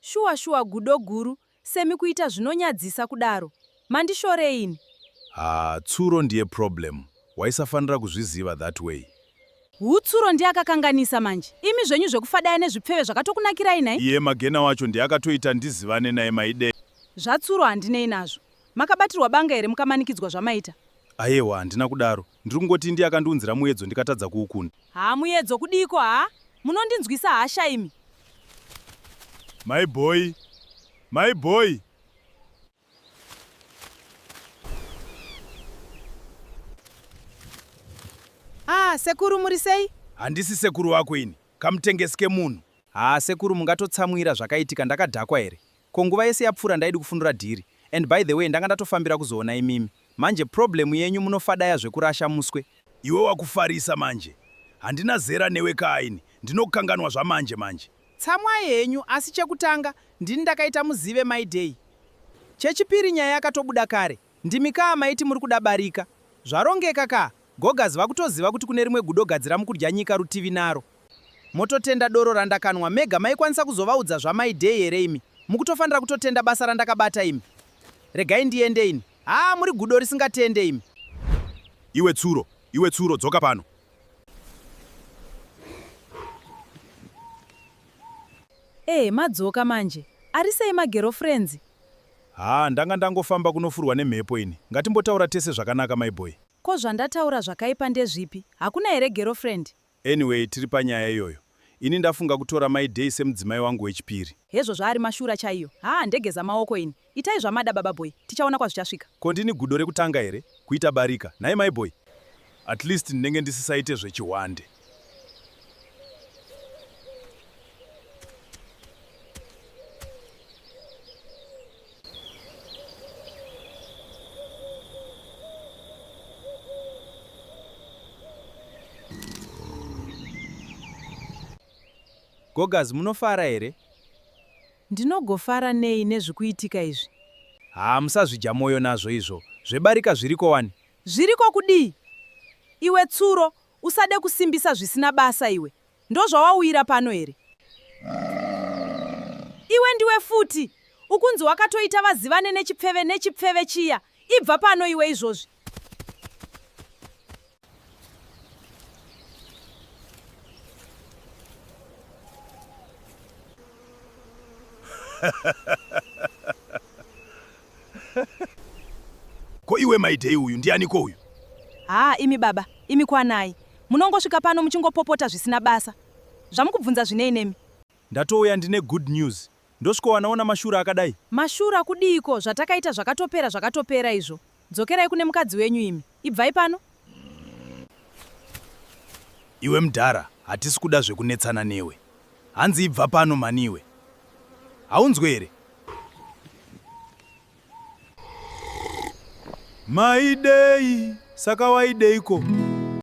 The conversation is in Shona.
Shuwa shuwa gudo guru semi kuita zvinonyadzisa kudaro. Mandishorei ini. Haa tsuro ndiye problem waisafanira kuzviziva that way. Huu tsuro ndiye akakanganisa manje imi zvenyu zvekufadaya nezvipfeve zvakatokunakirai nhai. Iye magena wacho ndiye akatoita ndizivane naye maidei. Zvatsuro handinei nazvo. Makabatirwa banga here mukamanikidzwa zvamaita. Ayewa handina kudaro. Ndiri kungoti ndiye akandiunzira muedzo ndikatadza kuukunda. Haa muedzo kudiiko haa munondinzwisa hasha imi. Mai boy mai boy. Haa sekuru muri sei? Handisi sekuru wako ini kamutengesi kemunhu. Haa sekuru mungatotsamwira zvakaitika ndakadhakwa here? Ko nguva yese yapfura ndaidi kufunura dhiri and by the way ndanga ndatofambira kuzoona imimi manje problem yenyu munofadaya zvekurasha muswe. Iwe wakufarisa manje handina zera newe kaa ini ndinokanganwa zvamanje manje. Tsamwai henyu asi chekutanga ndini ndakaita muzive Maidei. Chechipiri nyaya yakatobuda kare. Ndimi kaa maiti muri kuda barika. Zvarongeka kaa, Gogaz vakutoziva kuti kune rimwe gudo gadzira mukudya nyika rutivi naro. Mototenda doro randakanwa mega maikwanisa kuzovaudza zvamai Dee here imi? Mukutofanira kutotenda basa randakabata imi. Regai ndiende ini. Haa muri gudo risingatende imi. Iwe Tsuro, iwe Tsuro dzoka pano. Eeh madzoka manje. Arisei magerofrenzi? Haa ndanga ndangofamba kunofurwa nemhepo ini. Ngatimbotaura tese zvakanaka my boy. Ko zvandataura zvakaipa ndezvipi? Hakuna here girlfriend? Anyway tiri panyaya iyoyo. Ini ndafunga kutora mai Dee semudzimai wangu wechipiri. Hezvo zvaari mashura chaiyo. Haa ndegeza maoko ini. Itai zvamada baba boy. Tichaona kwazvichasvika. Ko ndini gudo rekutanga here kuita barika nhai mai boy? At least ndinenge ndisisaite zvechihwande. Gogas munofara here? Ndinogofara nei nezvikuitika izvi? Haa musazvidya moyo nazvo izvo. Zvebarika zviriko wani. Zviriko kudii? Iwe tsuro, usade kusimbisa zvisina basa iwe. Ndozvawauyira pano here? Iwe ndiwe futi! Ukunzi wakatoita vazivane nechipfeve nechipfeve chiya. Ibva pano iwe izvozvi. Ko iwe maidei uyu ndianiko uyu? Haa imi baba, imi kwanai. Munongosvika pano muchingopopota zvisina basa. Zvamukubvunza zvinei nemi? Ndatouya ndine good news. Ndosvikowanaona mashura akadai. Mashura kudiiko zvatakaita zvakatopera zvakatopera izvo. Dzokerai kune mukadzi wenyu imi. Ibvai pano. Iwe mdhara hatisi kuda zvekunetsana newe. Hanzi ibva pano mhani iwe. Haunzwe here? Maidei, saka waideiko?